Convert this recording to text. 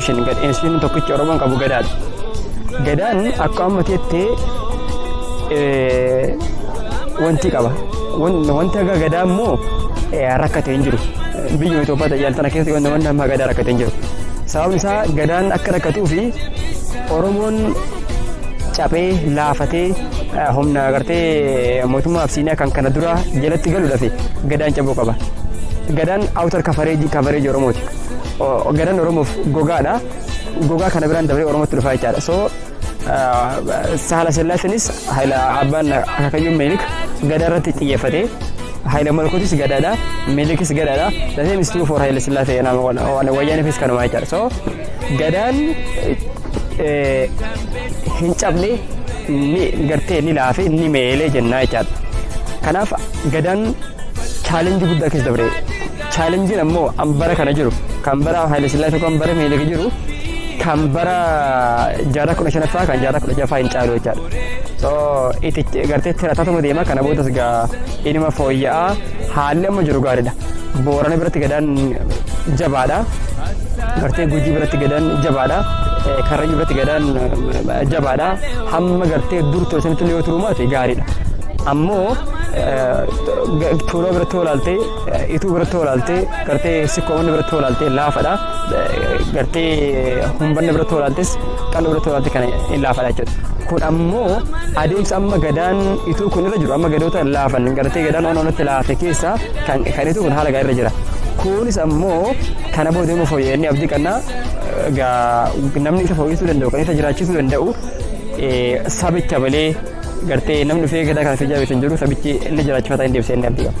Ishiin gadheen ishiin tokkichi Oromoon qabu gadaadha. Gadaan akka amma teettee eh, wanti qaba. Wan- Wanti akka gadaa immoo eh, rakkate hin jiru. Biyya Itoophiyaa tajaajila tana keessa wanti wanti amma gadaa rakkate hin jiru. Sababni isaa gadaan akka rakkatuu fi Oromoon caphee laafatee humna agartee mootummaa Absiiniyaa kan kana dura jalatti galuudhaaf gadaan cabuu qaba. Gadaan outer coverage coverage Oromooti. Gadaan Oromoof gogaadha. Gogaa kana biraan dabree Oromootti dhufaa jechaadha. So saala sillaaseenis haila abbaan akaakayyuun meelik gadaa irratti xiyyeeffate. Haila malkootis gadaadha. Meelikis gadaadha. Dasee mistuu for haila sillaasee wayyaanifis kanuma jechaadha. So Gadaan hin cabne ni gartee ni laafe ni meelee jennaa jechaadha. Kanaaf gadaan chaalenjii guddaa keessa dabre. Chaalenjiin ammoo an bara kana jiru kan bara Haayile Sillaasee kan bara Minilik jiru kan bara jaarraa kudha shanaffaa kan jaarraa kudha jaffaa hin caalu jechaadha. So itti gartee tirataatuma deema kana boodas gaa inuma fooyya'aa haalli amma jiru gaariidha. Boorana biratti gadaan jabaadha. Gartee Gujii biratti gadaan jabaadha. Eh, Karrayyuu biratti gadaan eh, jabaadha. Hamma gartee dur ture sanitti illee yoo turuu maate gaariidha. Ammoo eh, ga- Tuuloo biratti yoo ilaalte, eh, Ituu biratti yoo ilaalte, gartee Sikkoomanni biratti yoo ilaalte laafadha. Eh, Gartee Humbanna biratti yoo ilaaltes, Qal'oo biratti yoo ilaalte kana hin laafadha jechuudha. kun ammoo adeemsa amma gadaan ituu kun irra jiru amma gadoota laafan gartee gadaan onoonatti laafe keessaa Kan kan itu kun haala gaarii irra jira. Kunis ammoo kana booda immoo fooyya'ee inni abdii qabna. Egaa namni isa fooyyessuu danda'u kan isa jiraachisuu danda'u eh, sabicha malee gartee namni dhufee gadaa kana fi jaabeessan jiru sabichi inni jiraachifataa hin deebisee inni abdii qaba.